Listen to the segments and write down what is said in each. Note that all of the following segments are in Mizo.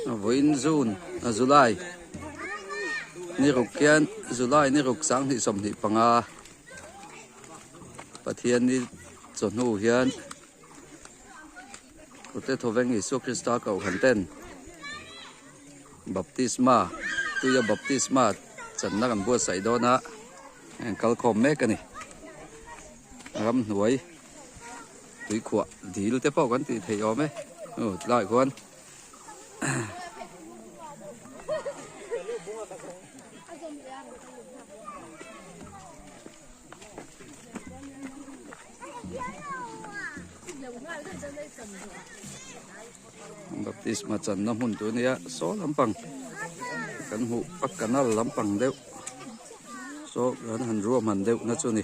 Vawiin June ah July ni ruk hian July ni ruk sang hnih sawm hnih panga. Pathian i chawhnu hian Kute Thoveng Isua Krista Kohhran ten Baptisma tuia Baptisma channa kan buatsaih dawn a heng kal khawm mek a ni. Ram hnuai tuikhuah dil te pawh kan tih theih awm e. Tlaiah khuan. Baptist ma chan na mun tu nia so lampang kan mu pak kanal lampang deuh so kan han ruah man deuh na chu ni.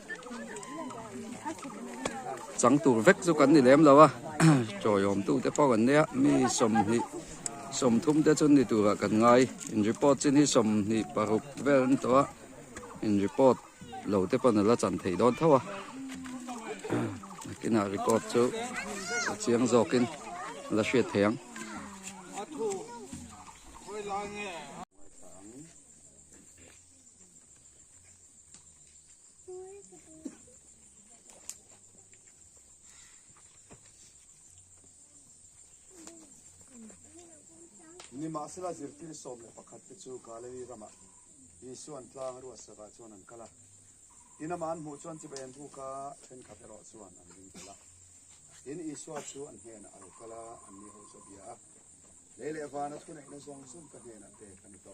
chang tur vek chu kan ni lem lo a chawi awm tute pawh kan nia mi sawmhnih sawmthum te chu ni turah kan ngai in report chin hi sawmhnih paruk vel an ni tawh a in report lo te pawh nala chan thei dawn tho a nakinah report chu a chiang zawkin la hriat thei ang ni ma sila zirtir som le pakhat te chu gallery rama isu an tla ru asaka chuan an kala ina ma an mu chuan chibai an buka then khat ero chuan an ding kala in isu a chu an hen a kala an ni ho chu bia le le van a thune na zong zong ka hen a te kan to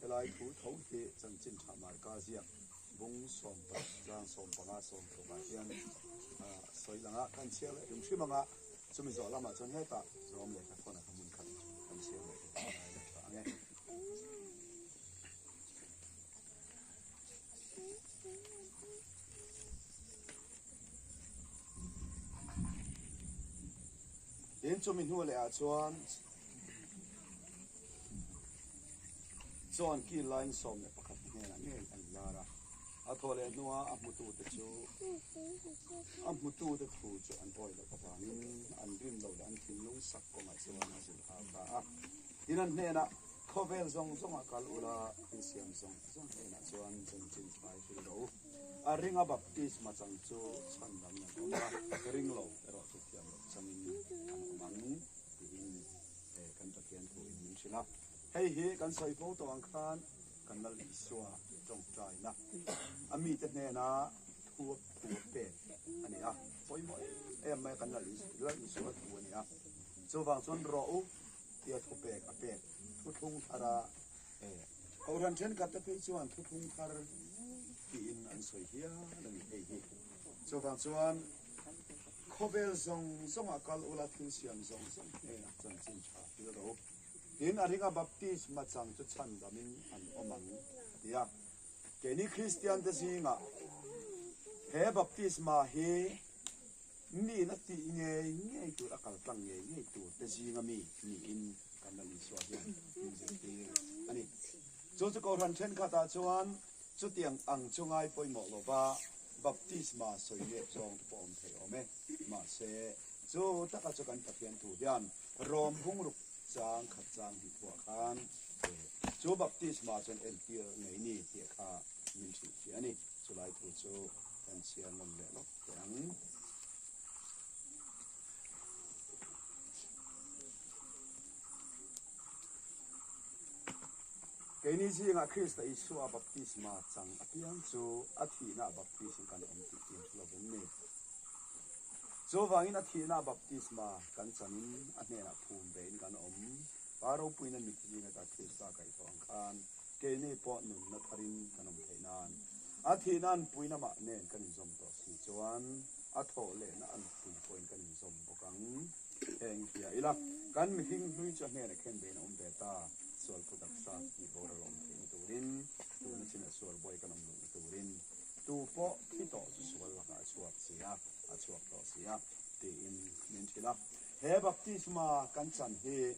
Helai thu tho hi chanchin tha marka ziak bung sawm pah tlang sawm panga sawm tlukah hian a sawi lang a, kan chhiar leh tum hrim ang a, chumi zawh lamah chuan hetah rawm leh hnathawna hnu hmun khat kan chhiar leh tum hi ngai lo ta ang e. Tin chumi hnu leh ah chuan Chuan khi Lai insawm leh pakhat te hnenah ngei an lar a, a thaw leh hnua a hmutute chu a hmutute thu chu an awi loh avangin an rin loh leh an thinlung sak kawngah chuan a zin hau ta a. Tin an hnenah khawvel zawng zawng a kal ula, thil siam zawng zawng hnenah chuan zan chin thlai fil lo u. A ringa baptist machang chu chhan lam in an awm a, ring lo erawh chu thiam loh changin an awm ang tiin. He kan Pathian thu in min hrilh a, hei hi kan sawi fo tawh ang khan kan lal in isua tawngtai na a mi te hnena thuak thu a pek a ni a, pawimawh em mai kan lal lal in isua thu a ni a, chuvang chuan rawh u tia thu pek a pek thuthlung thar a e. Kohhran thenkhat te phei chuan thuthlung thar tiin an sawi hial a ni hei hi chuvang chuan. Khawvel zawng zawngah kal ula thil siam zawng zawng hnenah chanchin tha hil ro in a ringa baptisma chang chu chhan damin an awm ang tia keini Kristiante zingah he baptisma hi miin a tih ngei ngei tur a kaltlang ngei ngei tur te zinga mi niin kan lo insua hian music te ani chu chu ko hran thenkhatah chuan Chutiang ang chu ngai pawimawh lova baptisma sawi lep zawng te pawh awm thei awm e. Mahse, chu taka chu kan Pathian thu hian Rome bungruk chang khat chang hnih thuah khan chu baptisma chuan entir ngei ni tih kha min hrih ṭhi a ni. Chulai thu chu kan chhiar nawm leh lawk teh ang. Keini zingah Krista Isua baptisma chang apiang chu a thihna baptism kan awm tih chin thu lo em ni. Chuvangin a thihna baptisma kan chanin a hnenah phum ve in kan awm. Pa ropuina mit zing ata Krista kaih thawh ang khan keini pawh nunna tharin kan awm theih nan a thihna an puina mah nen kan inzawm tawh si chuan, a thawh lehna a nuk pui pawhin kan inzawm bawk ang. Heng hia ila kan mihring hnuicha hnenah khen bein a awm ve ta, sualphu taksa tih bawr a lawm theihna turin, tuna chin a sual buai kan awm luhna turin tu pawh khi tawh chu sual lakah a chhuak si a, a chhuak tawh si a, tiin min thil a. He baptisma kan chan hi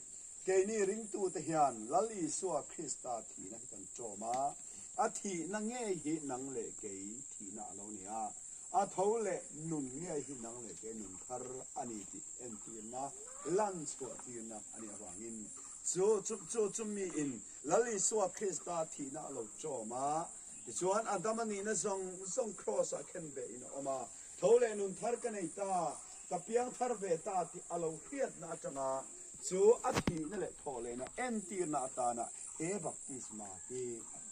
keini ringtute hian Lal Isua Krista thihna hi kan ṭawm a, a thihna ngei hi nang leh kei thihna a lo ni a, a tho leh nun ngei hi nang leh kei nun thar a ni tih entirna, lan chhuahtirna a nih avangin chu chu chumiin Lal Isua Krista thihna a lo ṭawm a. Tichuan, Adam a nihna zawng zawng Kraws-ah khenbehin a awm a, tho leh nun thar ka nei ta, Ka piang thar ve ta tih a lo hriatna atanga chu a thihna leh thawhlehna entirna atana he baptisma hi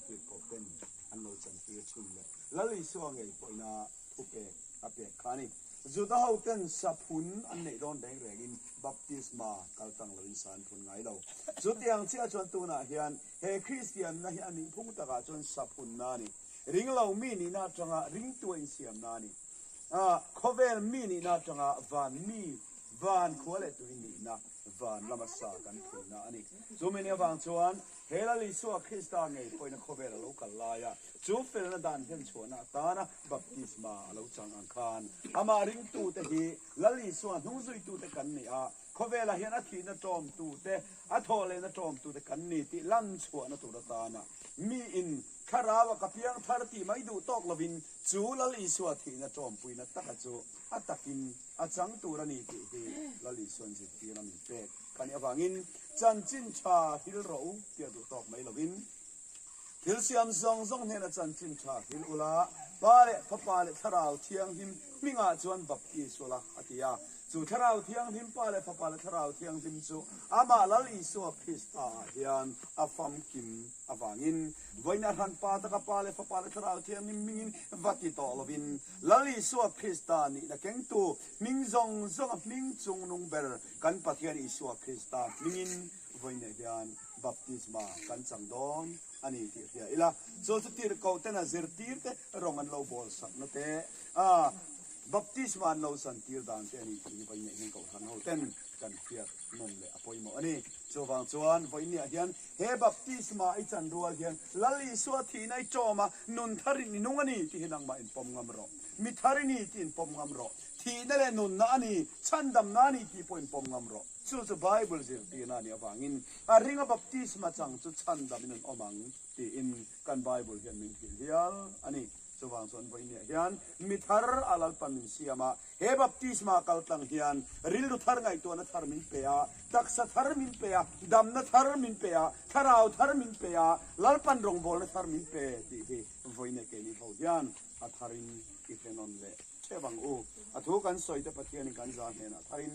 hlitpawh ten an lo chantir thin leh Lal Isua ngei pawhina thupek a pek kha a ni. Juda hoten saphun an neih dawn reng rengin baptisma kal tang loin sa an phun ngai lo. Chutiang chiah chuan tunah hian he Kristianna hi a nihphung takah chuan saphunna a ni. Ringlo mi nihna atanga ringtuain siamna a ni. A, Khawvel mi nihna atanga van mi, van khua leh tui nihna van lama sa kan phunna a ni. Chu min avang chuan he lal Isua Krista ngei pawhina khawvel a lo kal laia chu felna dan hlenchhuahna atana baptisma a lo chang ang khan, amah ringtute hi lal Isua hnungzuitute kan ni a, Khawvelah hian a thihna ṭawmtute, a thawh lehna ṭawmtute kan ni tih lan chhuahna tur atana miin Thlarau a ka piang thar tih mai duh tawk lovin chu Lal Isua thihna ṭawmpuina taka chu a takin a chang tur a ni tih hi Lal Isua'n zirtirna min pek khani avangin chanchin ṭha hrilh rawh u tih a duh tawk mai lovin Thil siam zawng zawng hnena chanchin tha hil ula, Pa leh Fapa leh Thlarau Thianghlim hmingah chuan baptist ula, a ti a. Chu Thlarau Thianghlim, Pa leh Fapa leh Thlarau Thianghlim chu Amah Lal Isua Krista ah hian a famkim avangin vawiin a hran pa taka Pa leh Fapa leh Thlarau Thianghlim hmingin va ti tawh lovin Lal Isua Krista nihna kengtu hming zawng zawnga hming chungnung ber kan Pathian Isua Krista hmingin vawi neih hian baptisma kan chang dawn a ni tih hria ila, chu chu tirhkoh tena zirtir te rawng an lo bawlsakna te, a baptisma an lo chan tir dan te a ni tih hi vawi neih hian kohhran ho ten kan hriat nawn leh a pawimawh a ni. Chuvang chuan vawi neih ah hian he baptisma i chan rual hian Lal Isua thihna i ṭawm a, nun thar in i nung a ni tih hi nangmah in pawm ngam rawh, mi thar i ni tih in pawm ngam rawh, thihna leh nunna a ni, chhandamna a ni tih pawh in pawm ngam rawh. Chu chu Bible zirtirna nih avangin a ringa baptisma chang chu chhan dam in an awm ang tiin kan Bible hian min thil hial a ni. Chuvang chuan Vawinia hian mi thar a lalpa min siam a, he baptisma kaltlang hian rilru thar ngaihtuahna thar min pe a, taksa thar min pe a, damna thar min pe a, thlarau thar min pe a, lalpan rawngbawlna thar min pe tih hi Vawinia keini ho hian a thar in i hre nawn leh thep ang u. A thu kan sawite Pathian in kan za hnenah thar in,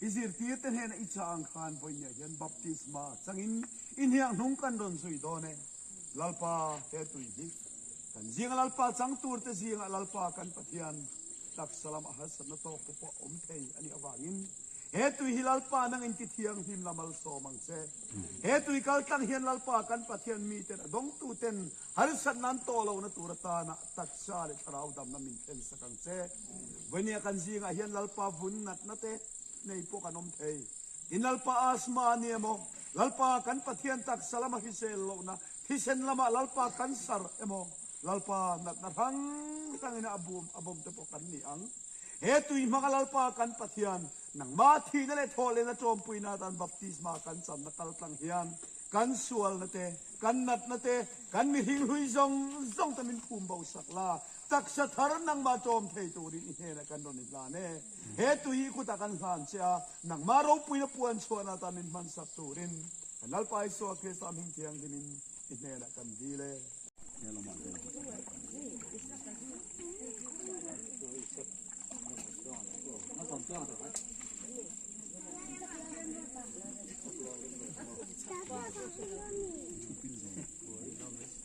I zirtirte hnena i chang khan vawinia hian baptisma changin i hniang hnung kan rawn zui dawn e. Lalpa, he tui hi kan zing a Lalpa chang turte zingah Lalpa kan Pathian taksa lamah harsatna tawk te pawh awm thei a nih avangin he tui hi Lalpa nangin ti thianghlim la malsawm ang che. He tui kaltlang hian Lalpa kan Pathian miten a dawngtuten harsatna an tawh lohna tur atana taksa leh thlarau damna min thlensak ang che. Vawinia kan zingah hian Lalpa vun natna te nei pawh kan awm thei. Tin Lalpa asthma a nia maw? Lalpa kan Pathian taksa lama hisel lohna thisen lama Lalpa kan sar emaw? Lalpa natna hrang hrangin a bum a bawmte pawh kan ni ang. He tui hmanga Lalpa kan Pathian nangmah thihna leh thawhlehna ṭawmpuina dan baptisma kan channa kaltlang hian kan sualna te, kan natna te, kan mihring hlui zawng zawngte min phum bosak la Taksa thar nangma tlawm thei turin i hnelah kan rawn inhlan e. He tui hi kut ah kan hlan che a, nangma ropuina puan chhuahna atan min hmansak turin kan Lalpa Isua Krista hming thianghlim in i hnelah kan dil e.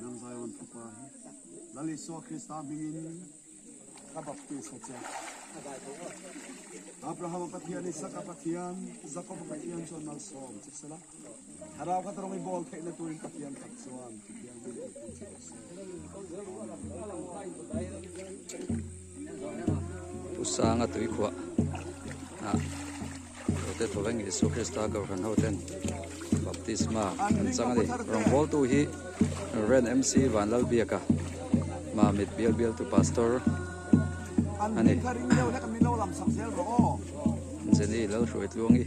Nang Zion thupa hi Lal Isua Krista hmingin ka baptisa che. Abrahama Pathian, Isaka Pathian, Jakoba Pathian chuan mal sawm che sela, thlarau khat rawng i bawl theihna turin Pathian khat chuan Thianghlim Pathian che se. Pu Sanga tuikhuah ah Doctor Tholeng Isua Krista Gavhan ho ten Baptisma an chang a ni. Rawngbawl tu hi Rev. MC. Vanlal biaka hma mit bial bial tu Pastor a ni. Jenny Lalhruaitluang i.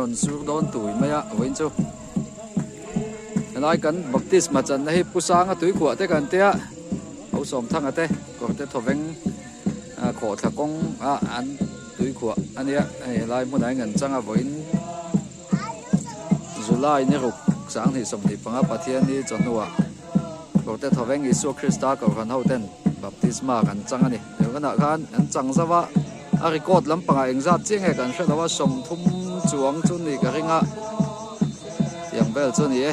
rawn zuk dawn tui mai a vawiin chu helai kan baptisma channa hi pu sanga tuikuah te kan tia ho sawm thanga te kawrte thawveng khawh thla kawng a an tuikuah ania hei helai hmunah hi an changa vawiin July ni ruk sang hnih sawm tih panga Pathian ni chawhnuah Kawrte Thoveng Isua Krista Kawrhan hoten Baptisma kan chang a ni. Tunah khan an chang zauh a, a record lampangah engzat chiang nge kan hre lo a, sawmthum chuang chu ni ka ring a, tiang vel chu a ni e.